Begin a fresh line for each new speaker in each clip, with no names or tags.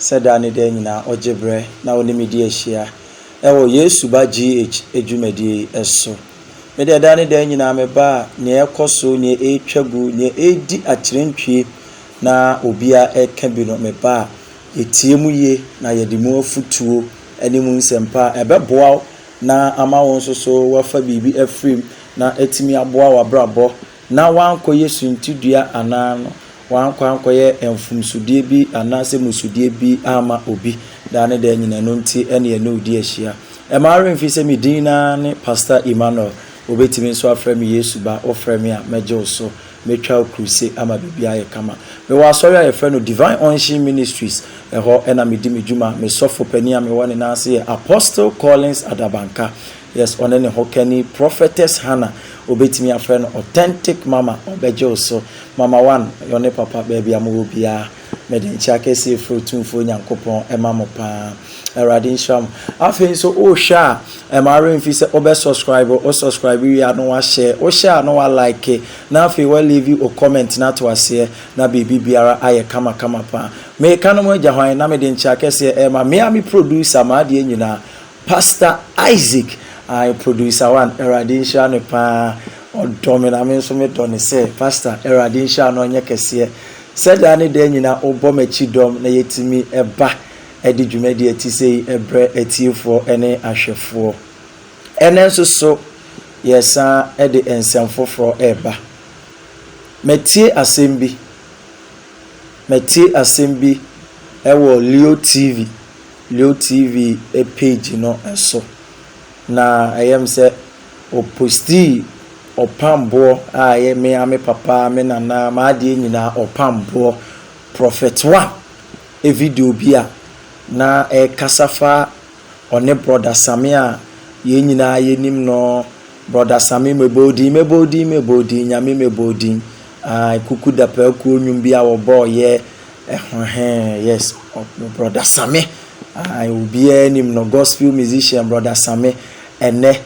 sɛ daa ne daa nyinaa ɔgye berɛ na ɔne me di ahyia wɔ Yesu Ba GH dwumadie yi so. Me deɛ daa ne daa nyinaa meba a, nea ɛrekɔ so, nea ɛretwa gu, nea ɛredi akyerɛntwie na obiara reka bi no, meba a, yɛtie mu yie na yɛde mu afotuo ne mu nsɛmpa a ɛbɛboa wo na ama wo nso so woafa biribi afiri mu na atumi aboa w'abrabɔ na wɔankɔyɛ suntidua anaa no wɔankɔ ankɔyɛ mfomsodeɛ bi anaa sɛ mmusudeɛ bi amma obi daa ne daa nyina ɛno nti ne yɛne wo di ahyia. Mma wo werɛ mfiri sɛ me din no ara ne Pastor Emmanuel, wobɛtumi nso afrɛ me Yesu Ba, wofrɛ me a mɛgye wo so, mɛtwa wo kruse ama biribiara ayɛ kama. Mewɔ asɔre a yɛfrɛ no Divine Unction Ministries, ɛhɔ na medi me dwuma, me sɔfo panin a mewɔ ne nan ase yɛ Apostle Collins Adabanka. Yes ɔne ne hokani prophetess Hannah obetumi afrɛ no authentic mama ɔbɛgye wo so mama one yɛ ɔne papa baabi a mowɔ biara mede nkyea kɛseɛ efiri otumfoɔ Nyankopɔn ɛma mo paa awurade nhyira mo afei nso wohwɛ a ɛma awerɛ mfi sɛ wobɛ subscribe wo subscribe wie a na wa share wo share a na wa like na afei wa leave o comment na to aseɛ na biribi biara ayɛ kama kama paa meka no mo agya hwan na mede nkyea kɛseɛ ɛma mea me producer maadeɛ nyinaa Pastor Isaac ae producer one awurade nhyira no paa ɔdɔ me na me nso me dɔ no sɛ pastor awurade nhyira no ɔnyɛ kɛseɛ sɛ daa ne daa nyina wo bɔ makyi dɔm na yɛtumi ba de dwumadie te sɛ yi brɛ atiefoɔ ne ahwɛfoɔ ɛnɛ nso so yɛsan de nsɛm foforɔ reba matie asɛm bi matie asɛm bi ɛwɔ Leo TV. LeoTv page no so, na ɛyɛ me sɛ ɔpostii ɔpamboɔ a ɛyɛ me ara me papa, me nana, m'adeɛ nyinaa ɔpamboɔ, Prophet One video bi a na ɛrekasa fa ɔne Brɔda Same a yɛn nyinaa yɛnim no, Brɔda Same mebɔ wo din, mebɔ wo din, mebɔ wo din, Nyame mebɔ wo din, aah, Kuku Dapaah Kuo nnwom bi a wɔbɔeɛ, Ɛhɔhɛɛn yes brɔda Same ae obiara nim no gospel musician brɔda Same ɛnɛ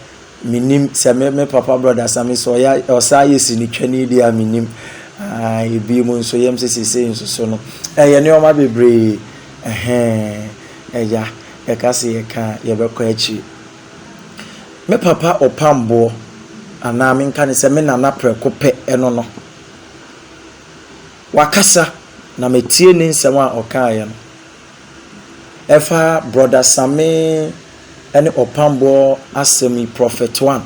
me nim sɛ me me papa brɔda Same sɛ ɔyɛ ɔsan yɛ sinitwani deɛ a me nim ae ebi mu nso yɛm sɛ sese nso so no ɛyɛ nneɛma bebree ɛhɛɛn ɛya yɛka sɛ yɛka a yɛbɛkɔ akyiri me papa ɔpam boɔ anaa menka ne sɛ me nana prɛko pɛ ɛno no. Wakasa, na metie ne nsɛm a ɔkaeɛ no. Ɛfa Brɔda Samee ne Ɔpamboɔ asɛm yi, Prɔfɛt One,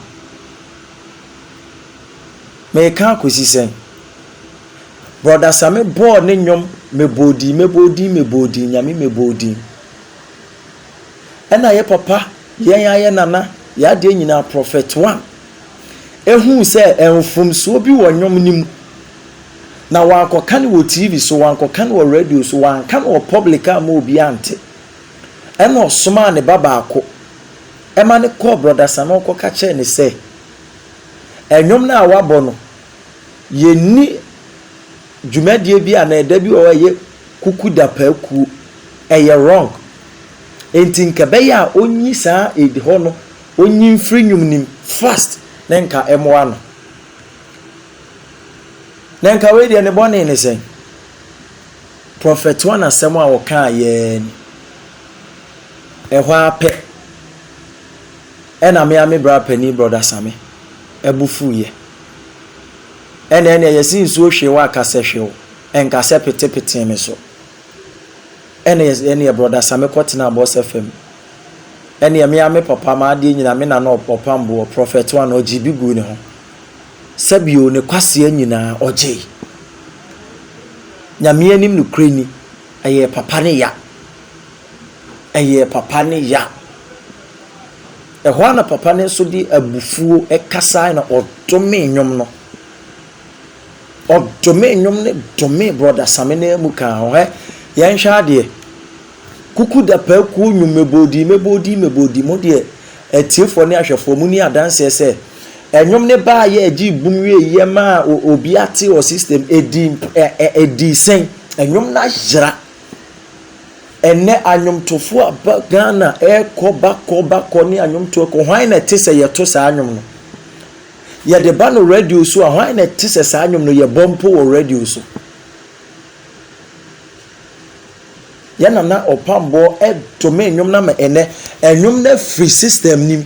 mereka akɔsi sɛn? Brɔda Samee bɔɔ ne nnwom Mebɔ wo din, mebɔ wo din, mebɔ wo din, Nyame mebɔ wo din. Ɛna yɛ papa, yɛn ara yɛ nana, yɛ adeɛ nyinaa, Prɔfɛt One, huu sɛ mfomsoɔ bi wɔ nnwom no mu. Na wɔankɔka no wɔ TV so, wɔankɔka no wɔ radio so, wɔanka no wɔ public a amma obiara nte. Ɛnna ɔsomaa ne ba baako ma no kɔɔ Brɔda Sanon kɔka kyerɛɛ no sɛ, Nnwom no a woabɔ no, yɛnni dwumadie bi anaa ɛda bi wɔ hɔ a ɛyɛ kuku da pa akuo. Ɛyɛ wrong. Enti nka ɛbɛyɛ a ɔnyi saa Eid hɔ no, ɔnyi mfiri nnwom no mu fast na nka ɛmmoa no. Na nka wei deɛ ne bɔne ne sɛn? Prɔfɛt One asɛm a ɔkaa yɛɛ ni. Ɛhɔ ara pɛ, ɛna me ara me bra panin Brɔda Same bo fuiɛ. Ɛna ɛneɛ yɛse nsuo hwee wo a ka sɛ hwew, ɛnka sɛ petepetee me so. Ɛna yɛse ɛneɛ Brɔda Same kɔtenaa Boss FM. Ɛneɛ me ara me papa m'adeɛ nyinaa me na na ɔpam boɔ, Prɔfɛt One ɔgyee bi guu ne ho. sɛbio ne kwasea nyinaa ɔgyei. Nyame anim nokorɛ ni, ɛyɛɛ papa ne ya. Ɛyɛɛ papa ne ya. Ɛhɔ ara na papa no nso de abufuo kasae na ɔdomee nnwom no. Ɔdomee nnwom no domee Brɔda Same no amu kaa ho. Hɛ, yɛnhwɛ adeɛ. Kuku Dapaa Kuo Nnwom Meboodii meboodii meboodii mo deɛ atiefoɔ ne ahwɛfoɔ mo ni adanseɛ sɛ ɛnwom no baa yɛ ɛgyee bum wiee yɛ maa obi ate ɔ system ɛdi ɛ ɛ ɛdi sɛn ɛnwom no ayera ɛnɛ anwomtofoɔ aba Ghana ɛɛkɔ bakɔ bakɔ ne anwomtoɔ kɔ hwan na ɛte sɛ yɛto saa nwom no yɛde ba no radio so a hwan na ɛte sɛ saa nwom no yɛbɔ mpo wɔ radio so. Yɛ nana ɔpamboɔ to me nnwom no ama ɛnɛ nnwom no afiri system nim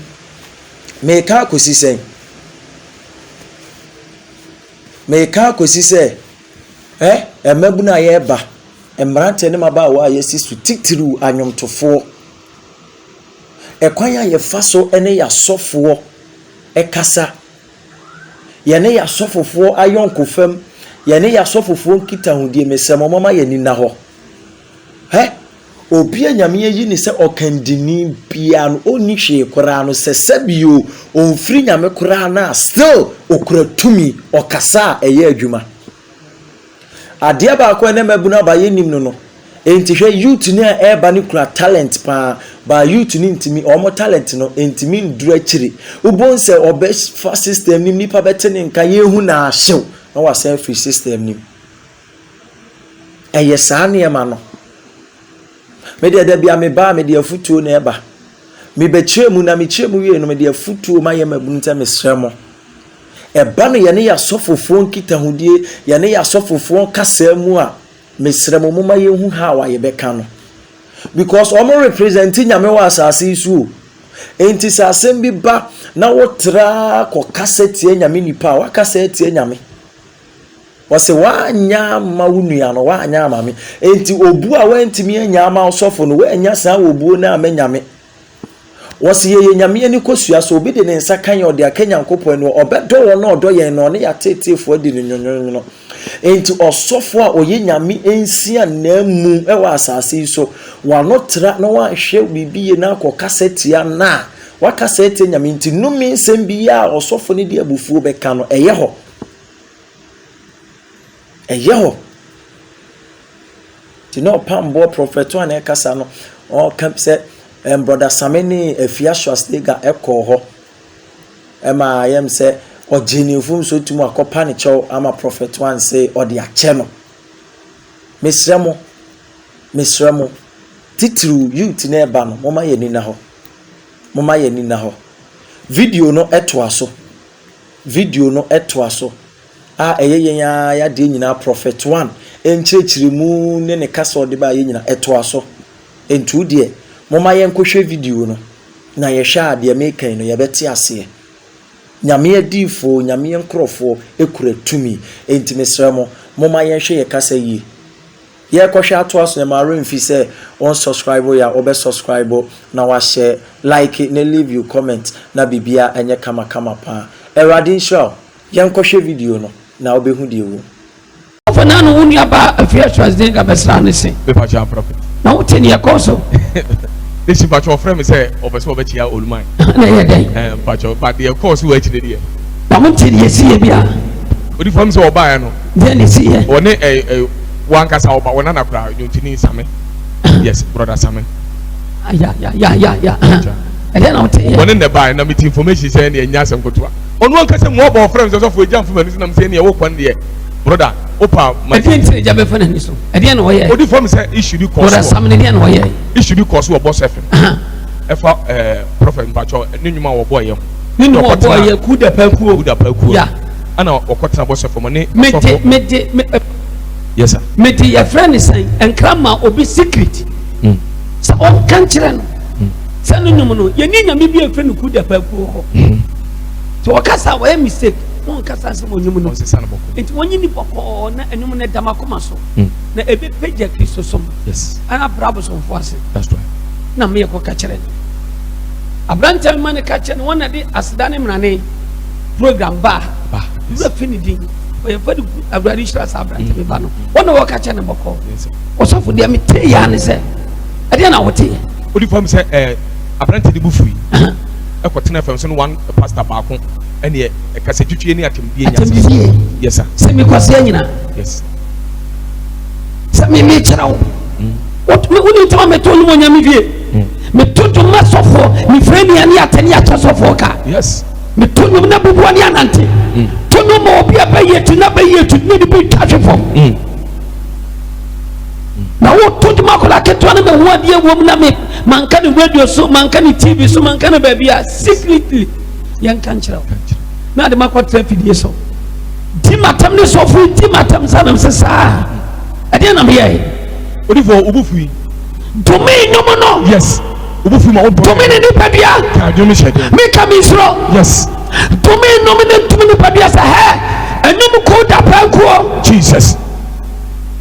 meka akɔsi sɛn meka akɔsi sɛ ɛ mmabunu a yɛreba mmeranteɛ ne mmabaawa a yɛasi so titiriw anwomtofoɔ ɛkwan a yɛfa so ne yɛasɔfoɔ ɛkasa Yɛne yɛn asɔfofoɔ ayɔnkofam, yɛne yɛn asɔfofoɔ nkitahodie, mesrɛ mo momma yɛn ani nna hɔ. Hɛ! Obi a Nyame ayi no sɛ ɔkandini biara no, ɔnni hwee koraa no, sɛ sɛbi o, ɔmfiri Nyame koraa no a, still ɔkura tumi, ɔkasa a, ɛyɛ adwuma. Adeɛ baako a ɛna mmabunu aba yɛ nim no no nti hwɛ youth no a ɛreba no kura talent paa but youth no ntumi wɔn talent no ntumi nduru akyiri wobon sɛ ɔbɛfa system nim nipa bɛte ne nka yɛhu na ahyew na wasan afiri system nim ɛyɛ saa nneɛma no me deɛ da bia me baa me deɛ afutuo na ɛba mebɛkyerɛ mu na mekyerɛ mu wie no mede afutuo ma yɛ mmabunu sɛ mesrɛ mo Ɛba no yɛne yɛn asɔfofoɔ nkitahodie, yɛne yɛn asɔfofoɔ kasaa mu a, mesrɛ mo momma yɛnhu how a yɛbɛka no. Because wɔn represent Nyame wɔ asase yi so o. Enti sɛ asɛm bi ba na wotra kɔ kasa tia Nyame nipa a, wakasa atia Nyame. Wɔse woanyɛ ama wo nua no, woanyɛ ama me. Enti obuo a woantumi anya ama ɔsɔfo no, woannya saa obuo no ama Nyame. Wɔse yɛyɛ Nyame ani kosua Sɛ obi de ne nsa ka yɛn ɔde aka Nyankopɔn ani Wɔ ɔbɛdɔ wɔn a ɔdɔ yɛn Na ɔne yɛn ateeteefoɔ adi no nwonwonwono Enti ɔsɔfoɔ a ɔyɛ Nyame nsia N'amu wɔ asase yi so W'ano tra na wanhwɛ biribi yie Na akɔ kasa tia no a Wakasa atia Nyame nti Nnome nsɛm biaa a ɔsɔfo no de abufuo bɛka no Ɛyɛ hɔ ɛyɛ hɔ. Nti na ɔpamboɔ prɔfɛto a na ɛkasa no ɔka sɛ ɛm brɔda Same ne Afia Schwarzenegger ɛkɔɔ hɔ ɛma yɛm sɛ ɔgye ne fom so tum akɔpa ne kyɛw ama prɔfɛto anse ɔde akyɛ no. Mesrɛ mo, mesrɛ mo, titiriw youth na ɛba no, moma yɛ nina hɔ. Moma yɛ nina hɔ. Video no ɛtoa so. Video no ɛtoa so. a ɛyɛ yɛn ara y'adeɛ nyinaa Prophet One nkyerɛkyerɛmu ne ne kasa a ɔde baeɛ nyinaa ɛtoa so nti wo deɛ momma yɛnkɔ hwɛ video no na yɛhwɛ a deɛ meka yi no yɛbɛte aseɛ Nyame adiyifoɔ Nyame nkorɔfoɔ kura tumi nti mesrɛ mo momma yɛnhwɛ yɛ kasa yie yɛrekɔhwɛ atoa so na ɛma remfi sɛ wɔn subscribe yɛ a wɔbɛ subscribe na wahyɛ like ne leave you comment na biribiara ɛnyɛ kama kama paa Awurade nhyira wo Yɛnkɔhwɛ video no na wobɛhu deɛ ɛwɔ mu. Afei na no
wo nua baa afie a Schwarzenegger bɛsraa no se. Me pakyɛ ampra pɛ. Na
wo te neɛ ɛkɔɔ
so. Ne si
pakyɛ ɔfrɛ me sɛ ɔpɛ sɛ ɔbɛkyea Oluman. Na ɛyɛ dɛn. Ɛɛ
pakyɛ ba deɛ
ɛkɔɔ so wɔ akyire deɛ. Na mo te deɛ
ɛsiiɛ bia. Odi fam sɛ
ɔbaeɛ no. Deɛ na ɛsiiɛ.
Ɔne ɛ ɛ
wankasa ɔba wɔn nana koraa nyontini Same. Yes brother Same.
Ayayayaya ɛdɛn na wo te yɛ. Wɔne na ɛbaeɛ na me te
information sɛ ɛne ɛnyɛ asɛm ketewa. Ɔno ankasa mu ɔbɔ ɔfrɛ me sɛ sɔfo agya mfo m'ani so nam sɛ ɛneɛ wo kwan deɛ broda wopa ma ɛdeɛ nti agya bɛfa
n'ani so ɛdeɛ na ɔyɛ ɔdi fam sɛ issue bi kɔ
so sam no deɛ na ɔyɛ
issue bi kɔ so wɔ boss
fm ɛfa ɛɛ prophet mpatsɔ ne nnwuma a wɔbɔ yɛ ho ne nnwuma wɔbɔ yɛ
ku da pa kuo ku da pa kuo ya
ɛna ɔkɔtena boss fm ne mede mede me yes sir mede yɛfrɛ ne sɛn
nkrama obi secret hmm. sɛ ɔnka nkyerɛ no hmm. sɛ no nnwom no yɛne nyame bi afiri no ku da pa kuo hɔ hmm. nti ɔkasa a wɔyɛ mistake na ɔnkasa nsɛm onyim no nti wɔnye ni bɔkɔɔ na ɛnum no dam akoma so hmm. na ebi pagya kristo som ɛna abira
abosomfo
ase na
meyɛ kɔ
kakyerɛ no aberantɛ bi ma ne kakyɛ no wɔn na de aseda ne mmerane program baa wura fi ne din ɔyɛ fɛ de gu awurade hyira saa aberantɛ bi ba no hmm. wɔn na wɔka kyɛ ne bɔkɔɔ ɔsɔfo deɛ me te yaa ne sɛ ɛdeɛ na wɔte yɛ. o de fam sɛ ɛɛ
aberantɛ de bu fui. ɛkɔtenaa fam so no one pastor baako ɛneɛ ɛkasatwitwie ne atɛmdie nya atɛmdie yes sir sɛ mekɔseɛ nyina
yes sɛ me mekyerɛ wo mm. wonim tɛma meto nom onyame dwie mm. meto dwom ma sɔfoɔ mefrɛ nua ne atɛne akyɛ sɔfoɔ ka yes meto
nom na
bubuɔ ne anante mm. to nom ma obi a bɛyɛ tu na bɛyɛ tu ne ne bɛtwa hwe fam na woto dwom akwadaa ketewa no bɛhu adeɛ wɔ mu na me manka ne radio so manka ne tv so manka ne baabi a secretly yɛnka nkyerɛ wo na ade makɔtra afidie so di matam ne sɔfo di matam sa nam sɛ saa ɛdeɛ na meyɛe odifoɔ
wobu
fui dome nnwom no yes wobu fui
ma wobɔ dome ne nipadua
ka dwom hyɛ dɛ meka me nsuro yes
dome nnwom
ne dome nipadua sɛ hɛ ɛnwom ko da paa nkuo jesus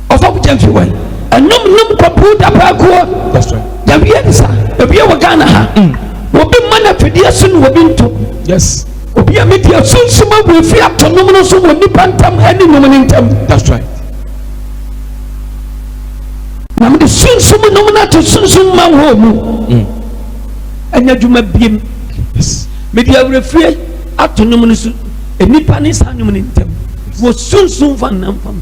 Ɔsɔfo Gyamfi wai. Ɛnom nom kwabruu dabaa kuo. That's right. Yawie
ne sa.
Ewie wɔ Ghana ha. Mm. Obi mma na fidie so na obi nto. Yes. Obi
a mi di
asunsum awu efi ato nom no so wɔ nipa ntam ɛne nom ne ntam. That's right. Na mi de sunsum nom na to sunsum ma wɔ mu. Mm. Ɛnyɛ adwuma biem. Yes.
Mi di awurefie
ato nom no so nipa ne saa nom ne ntam. Wɔ sunsum fa nam fam.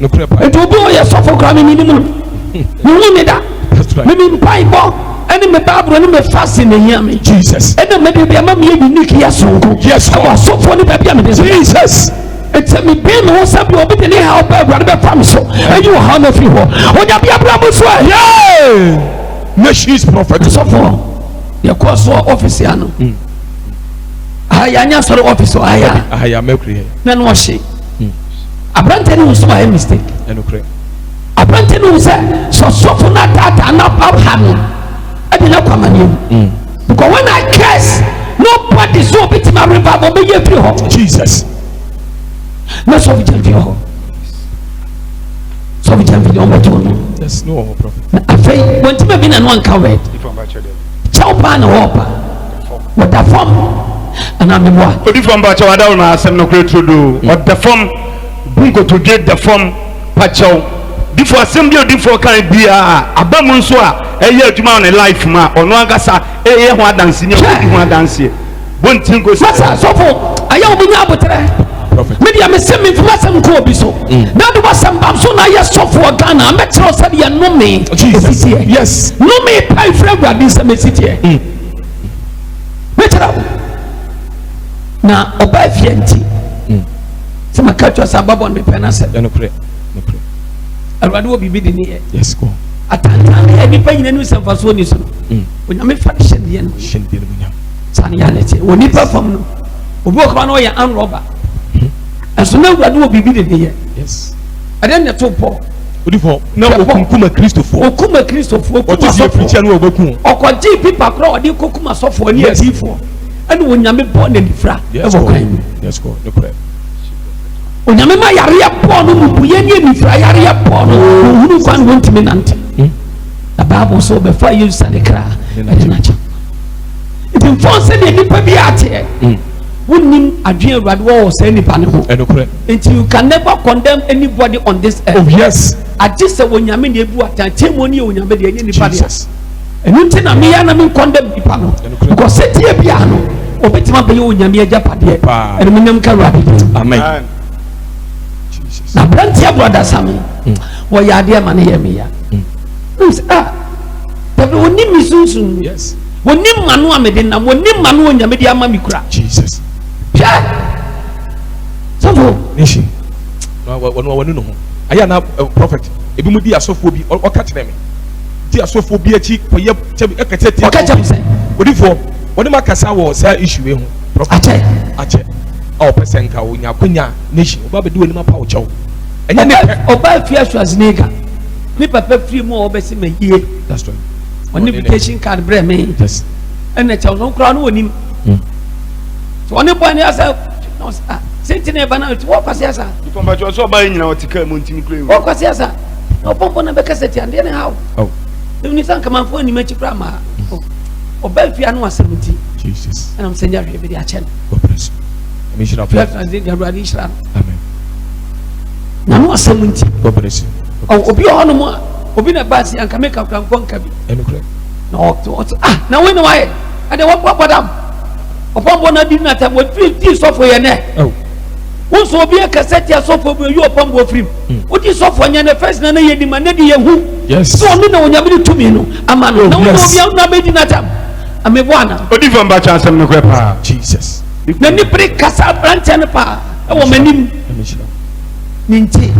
nokorɛ paa. Nti obi a ɔyɛ sɔfo koraa me menim no. Me hu ne da. Me me mpaebɔ ɛne me baaburo ne me fasi na ehia me. Jesus. Ɛna me de bi ama me yɛ unique yɛ sonko. Yes. Ɛwɔ asɔfoɔ ne baabi a me de. Jesus. Nti me bɛn me ho sɛ bi obi de ne ha ɔbɛ awurade bɛ fam so. Eyi wɔ ha na fi hɔ. Onya bi abura mu so ɛ. Yay. Nations prophet. Asɔfoɔ yɛ kɔɔ so ɔfisi ano. Mm. Aya anya sɔrɔ ɔfisi aya. Aya mɛkuri yɛ. Nanu ɔhyɛ. hmm. aberante no hu sɛ wayɛ mistake aberante no hu sɛ sɛ ɔsɔfo no ataataa no abha no ɛde no akɔ amanneɛ mu hmm. because when i curse nobody so obɛtumi areba ma ɔbɛyɛ afiri hɔ jesus na sɛ ɔbɛgya mfiri hɔ sɛ ɔbɛgya mfiri hɔ ɔbɛtɔ no na afei wɔntimi bi na no anka wɛd kyɛw paa na wɔɔpa Ɔda fam anaa mmoa. Odi fam pakyɛw adaw na
asɛm no kura turo do. Mm. Ɔda fam bu nkotodwe da fam pakyɛw. Difo asɛm bi odifoɔ kan biara aba mu nso a ɛyɛ adwuma wɔ ne life mu a ɔno ankasa ɛyɛ ho adanse ne ɔdi ho adanseɛ. Bonti nkosi. Masa sɔfo ayɛ omi nya abotrɛ. Media me se me nfuma sɛm nko obi so. Mm. Na de wasɛm bam so na yɛ sɔfo Ghana mɛkyerɛ sɛ deɛ nome ɛsiteɛ. Yes. Nome pa ifrɛ awurade nsɛm ɛsiteɛ. mɛkyerɛ wo na ɔbaa fie nti mm. sɛ maka kyerɛ sɛ ababɔ no mepɛ no asɛ awurade wɔ biribi de ne yɛ atantan ne yɛ nnipa nyina nim sɛ mfasoɔ ni so no mm. onyame fa hyɛ deɛ no sane yɛ ne teɛ wɔ nnipa fam no obi wɔ kora na ɔyɛ anrɔba mm. ɛso na awurade wɔ biribi de ne yɛ Ɛdɛn na ɛtoo Paul? Odi fɔ. Na okunkum Akristofoɔ. Okum Akristofoɔ, okum Ɔte sɛ afirikyia asɔfoɔ. no a wɔbɛku wɔn. Ɔkɔgyee pipa korɔ a ɔde kɔkum asɔfoɔ ne Yes. adiyifoɔ. Ɛna Onyame bɔɔ no anifira Yes, wɔ God. kwan mu. Yes, God. Nokorɛ. Onyame ma yareɛ bɔɔ no mmubuiɛ ne anifira yareɛ bɔɔ no. Ɔhunu kwan no ɔntumi nante. Na Bible sɛ ɔbɛfa Yesu sane kra ɛde no akyɛ. Nti mfɔn sɛdeɛ nnipa bi ateɛ. Wonnim adwene Awurade wɔ wɔ saa nipa no ho. Ɛnokorɛ. Nti you can never condemn anybody on this earth. Oh yes. Agye sɛ Onyame na ebu atan. Tiemuo no yɛ Onyame deɛ, ɛnyɛ nipa deɛ. Jesus. Ɛno nti na meya na me condemn nipa no. Ɛnokorɛ. Because sɛdeɛ bi a no, obetumi abɛyɛ Onyame agyapadeɛ. Paa. Ɛno menyam ka Awurade deɛ. Amen. Amen. Jesus. Na aberanteɛ brɔda Sami, mm. wɔyɛ adeɛ ma no yɛ meya. Mm. Ah, dabi onim me sunsun. Yes. Wɔnim m'ano a mede nam, wɔnim m'ano a Onyame de ama me kura. Jesus. Hwɛ! Sɔfo. Nehye. Na wɔn wɔn no ho. Ayɛ na eh, prophet. Ebi mu di asɔfoɔ bi ɔka kyerɛ me. Di asɔfoɔ bi akyi kɔyɛ kyɛ ɛka kyɛ tie. Ɔka kyɛ me sɛ. Odifoɔ wɔne ma kasa wɔ saa issue wei ho. Prophet. Akyɛ. Akyɛ. A ɔpɛ sɛ nka onya akonya nehye. Ɔba bɛdi wɔn anim apa ɔkyɛw. Ɛnyɛ ne pɛ. Ɔba fi aso asenega. Ne papa firi mu a ɔbɛsi ma yie. That's right. ɔne invitation card brɛ me ɛna kyɛw no koraa no wɔnim hmm. sɛ ɔne bɔe no asɛ ah, sɛnti na ɛba no nti wɔkwase asa pɔmpatwɔ sɛ ɔba yɛ nyina ɔte kaa mu ntimi kura wɔkwase asa na ɔpɔmpɔ no bɛka sɛ tiandeɛ ne haw oh. ɛni sɛ nkamanfoɔ anim akyi koraa maa hmm. oh. ɔba fie ano asɛm nti ɛnam sɛ nyɛ hwee bɛde akyɛ no awurade nhyira no na no asɛm nti obi ɔhɔ no mu a obi na ba si anka meka kura nkɔ nka bi ɛnukurɛ na ɔte ɔte ah na wei na wayɛ ɛdɛ wɔbɔ abɔdam ɔpɔnbɔ na adi nata wɔfiri ti sɔfo yɛ nɛ wosɔ obi akasa tia sɔfo bi oyi ɔpɔnbɔ firim wodi sɔfo nyɛ nɛ fɛs na ne yɛ nima ne de yɛ hu sɛ ɔno na onyame ne tumi no ama no na wɔn obi na bɛdi nata amebo
ana. odi fam ba kya
asɛm no korɛ paa. jesus. na
nipere
kasa aberanteɛ no paa ɛwɔ m'anim. ne nti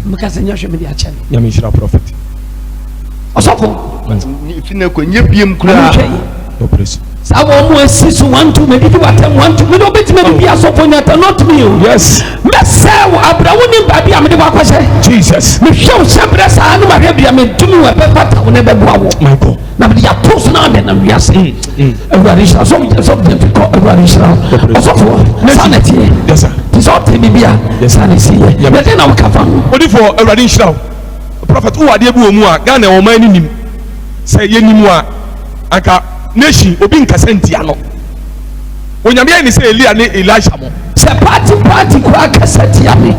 meka sɛ nyɛ hwɛ mede akyɛ no nyame nhyira prɔfet ɔsɔfo
fi na kɔ nyɛ biem koraa
saa wɔ ɔmo asi
so wanto madidi watam wanto mede wobɛtumi de bi asɔfo nyata not me o yes mɛsɛ
wo
abrɛ wo ne baabi a mede wakɔhyɛ jesus mehwɛ
wo hyɛ berɛ
saa ne mahwɛ bia medome wɔ ɛbɛfata wo ne bɛboa wo na mede
yɛato so na
amena wiase mm, mm. awurade nhyira sɛ megyina sɛ mede mfikɔ awurade nhyira ɔsɔfoɔ saa na ɛteɛ te sɛ
ɔte biribi
a saa na ɛsiyɛ yɛdɛn na woka fa ho odifoɔ awurade
nhyira wo prɔfɛt wowɔ adeɛ bi wɔ mu a ghana ɔman no nim sɛ yɛnim a anka nation obi nkasa ntia no onyame ayɛ ne sɛ elia ne elisha mo sɛ party party
koraa kasa tia me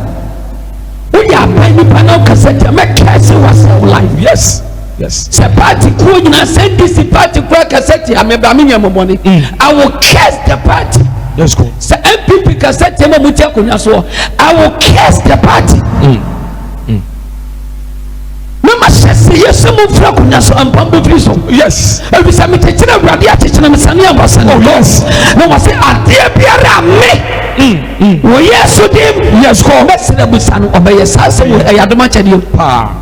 woyɛ aban nipa na wokasa tia mɛkɛse wasɛw life yes Yes.
Sɛ party kuo
nyinaa sɛ NDC party kura kasa tia me bra me nyɛ mɔmɔne. Mm. I will curse the party. Let's go. Sɛ
NPP kasa
tia ma mo ti akonnwa soɔ I will curse the party. Mm. Mm. Mama hyɛ se yɛ sɛ mo fura akonnwa so mpam bɔ firi so. Yes. Ebi sɛ
mekyekyere
awurade akyekyere me sani a wasani. Oh yes. Na
wɔsi adeɛ
biara me. Mm. wɔyɛ so dem. yes kɔ. bɛsrɛ
busa no ɔbɛyɛ
saa sɛ ɛyɛ adoma kyɛdeɛ. paa.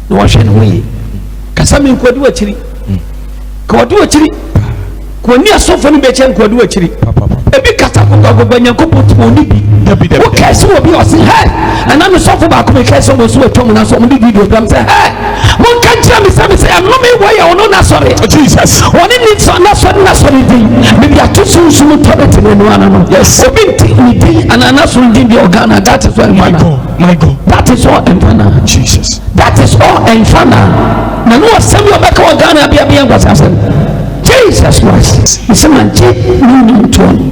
na wahwɛ ne ho yie
kasa mi nkɔdi w'akyiri kɔdi w'akyiri kò ní asɔfo ni bɛkyɛ nkò di w'akyiri ebi kata gbogbogbò nyankopɔ tó ní bi wò kɛse wò
bi ɔsi
hɛ ɛna mi sɔfo baako mi kɛse wò so wò tɔm na so ɔmo di video dɔm sɛ hɛ mo nka nkyɛn mi sɛ mi sɛ ɛno mi wɔ yɛ ɔno n'asɔre ɔne
ni sɔ
n'asɔre n'asɔre di mi bi ato so nsu mu tɔ bɛ ti mi nua na no obi nti mi di ana n'asɔre di bi ɔgana gati so ɛnfa na. My God.
That is all ɛmfa
na. Jesus. That
is all
ɛmfa na. Na no asɛm yɛ ɔbɛka wɔ Ghana abia bi ɛnkwasi asɛm. Jesus Christ. Ɛsɛ ma gye ne nim toɔ no.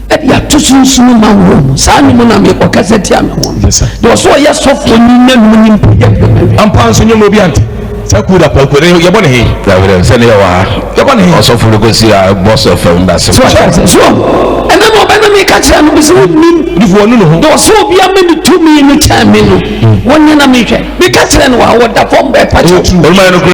Ɛde ato sunsun ma wɔ mu. Saa ne mu na mi ɔkasa tia mi ho. Yes sir. Deɛ ɔsɔ ɔyɛ sɔfo ni na mu ni mpo yɛ. Ampa nso nyɛ mu obi ante.
Sɛ ku da pɔnkɔ no yɛbɔ no he? Daabi, sɛ ne yɛ wɔ ha.
Yɛbɔ no he? Ɔsɔfo
no kɔsi a bɔ
sɛ fam da se. So ɔte aseɛ? So
ɛnɛ na ɔbɛ na meka kyerɛ no ɔsɛ wonnim. Ɔdifo ɔnu ne ho. Na ɔsɛ
obia ma ne
tumi no kyɛn me no wonye na mehwɛ meka kyerɛ no a ɔda fam bɛ pa kyɛ
tu.
Ɔno ma yɛ no kura.